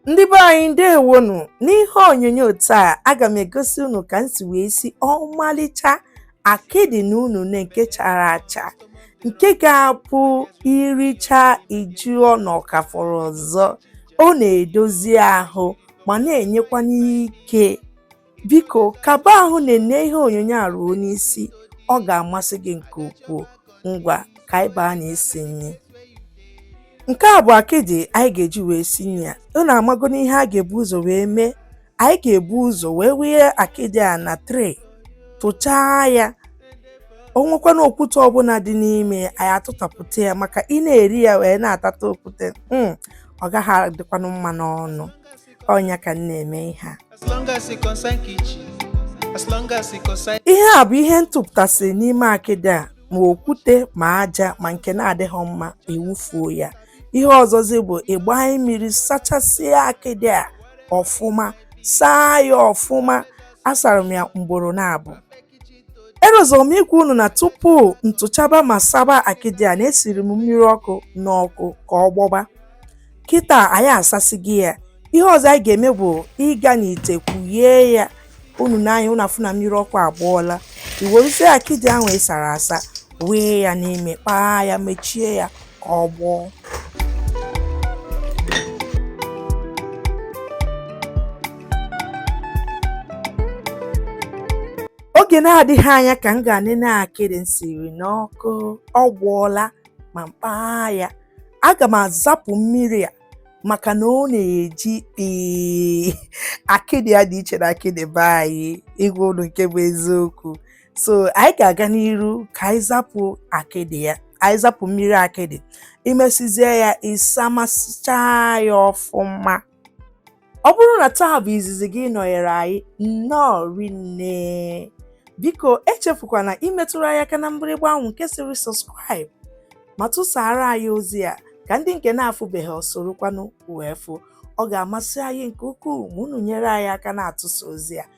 ndị be anyị ndewonu n'ihe onyonyo taa aga m egosi unu ka m si wee si ọmalịcha akịdị na unene nke chara acha nke ga-abụ i richa ị jụọ na ọ ka fọrọ ọzọ ọ na-edozi ahụ ma na-enyekwanụ ike Biko kaba ahụ na-ene ihe onyonyo a ruo n'isi, ọ ga-amasị gị nke ukwuu. Ngwa ka anyị baa na isi nri. Nke a bụ akịdị anyị ga-eji wee si nri a. Unu amagonụ ihe a ga-ebu ụzọ wee mee. Anyị ga-ebu ụzọ wee wụnye akịdị a na tray tụchaa ya o nwekwana okwute ọbụla dị n'ime anyị atụtapụta ya maka ị na-eri ya wee na-atata okwute hmm, ọ gaghị adịkwanụ mma n'ọnụ ọ nya ka m na-eme ihe a ihe a bụ ihe m tụpụtasị n'ime akịdị a ma okwute ma aja ma nke na-adịghị mma e wufuo ya ihe ọzọzi bụ ịgbanye mmiri sachasịa akịdị a ọfụma saa ya ọfụma asara m ya mgboro naabọ erozọrọ m ikwu unu na tupu m tụchaba ma saba akịdị a na esiri m mmiri ọkụ n'ọkụ ka ọ gbọba kịta anyị asasịgo ya ihe ọzọ anyị ga-eme bụ ịga n'ite kwughee ya unu nee anya unu afụ na mmiri ọkụ agbọọla i weruzie akịdị ahụ ị sara asa wee ya n'ime kpaa ya mechie ya ka ọ gbọọ oge na-adịghị anya ka m gaa nene akịdị m siri n'ọkụ ọ gbọọla ma m kpaa ya aga m azapụ mmiri a maka na ọ na-eji ee akịdị ya dị iche na akịdị be anyị ịgwa unu nke bụ eziokwu so anyị ga-aga n'iru ka anyị zapụ akịdị ya anyị zapụ mmiri akịdị i mesizie ya ị samasịchaa ya ọfụma ọ bụrụ na taa bụ izizi gị ịnọnyere anyị nnọọ rinne biko echefukwana imetụrụ anyị aka na mgbịrịgba ahụ nke sịrị subscribe ma tụsara anyị ozi a ka ndị nke na-afụbeghị ọ sorokwanụ wee fụ ọ ga-amasị anyị nke ukwuu ma unu nyere anyị aka na-atụsa ozi a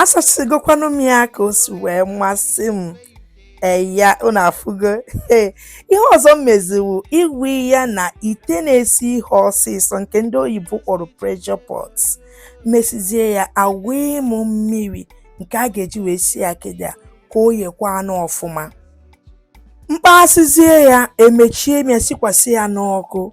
asasịgokwanụ m ya ka o si wee masị m eya unu afụgo ee ihe ọzọ m mezi wụ ịwụ ya na ite na-esi ihe ọsịsọ nke ndị oyibo kpọrọ pressure pot mesizie ya awee m mmiri nke a ga-eji wee sie akịdị a ka o yekwanụ ọfụma m kpasịzie ya emechie m ya sikwasị ya n'ọkụ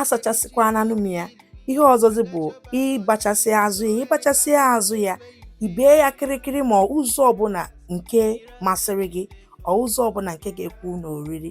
asachasịkwananụ m ya ihe ọzọzi bụ ịbachasị azụ ya ịbachasị azụ ya ibee ya kịrịkịrị ma ụzọ ọbụla nke masịrị gị ọ ụzọ ọbụla nke ga-ekwu n'oriri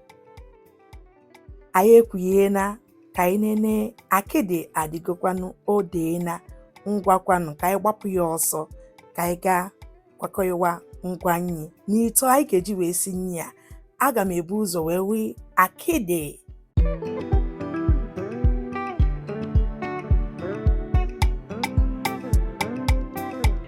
anyị ekwughena ka anyị nene akịdị adịgokwanụ o deena ngwakwanụ ka anyị gbapụ ya ọsọ ka anyị gaa kwakọwa ngwa nyi n'ite anyị ga-eji wee si nyi a aga m ebu ụzọ wee wee akịdị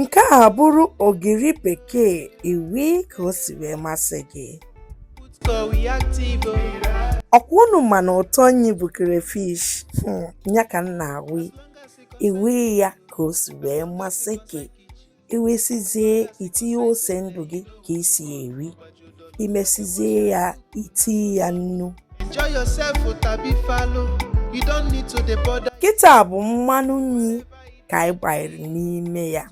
nke a bụrụ ogiri bekee iwi ka o si wee masị gị ọkwa unu ma na ụtọ nyi bụ crayfish hmm, ya ka m na-awụ iwi ya ka o si wee masị gị iwesizie itinye ose ndụ gị ka isi eri imesizie ya itinye ya nnu kịta bụ mmanụ nyi ka anyị gbanyere n'ime ya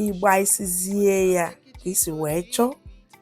ịgbaisizie ya ka isi wee chọọ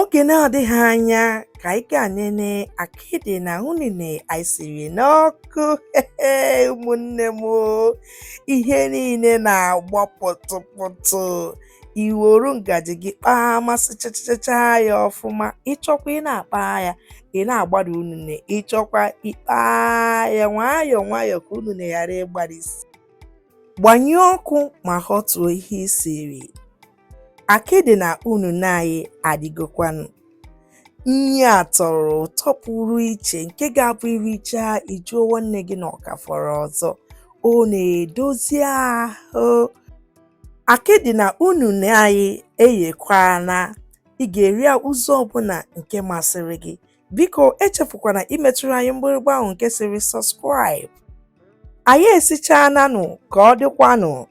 oge na-adịghị anya ka anyị gaa nene akịdị na unine anyị siri n'ọkụ ụmụnne m ihe niile na-agbọ pụtụpụtụ i were ngaji gị kpaa amasị chachachaa ya ọfụma ịchọkwa ị na-akpa ya ị na-agbari unune ịchọkwa ịkpa ya nwayọọ nwayọọ ka unune ghara ịgbarisi gbanyụọ ọkụ ma họtuo ihe isiri akịdị na unune anyị adịgokwanụ nyi a tọrọ ụtọ pụrụ iche nke ga-abụ iricha ịjụọ nwanne gị na ọ ka fọrọ ọzọ ọ na-edozi ahụ Akịdị na unune anyị eyekwana, ị ga-eri ya ụzọ ọbụla nke masịrị gị. Biko echefukwana imetụrụ anyị mgbịrịgba ahụ nke sịrị subscribe. Anyị esichaananụ ka ọ dịkwanụ.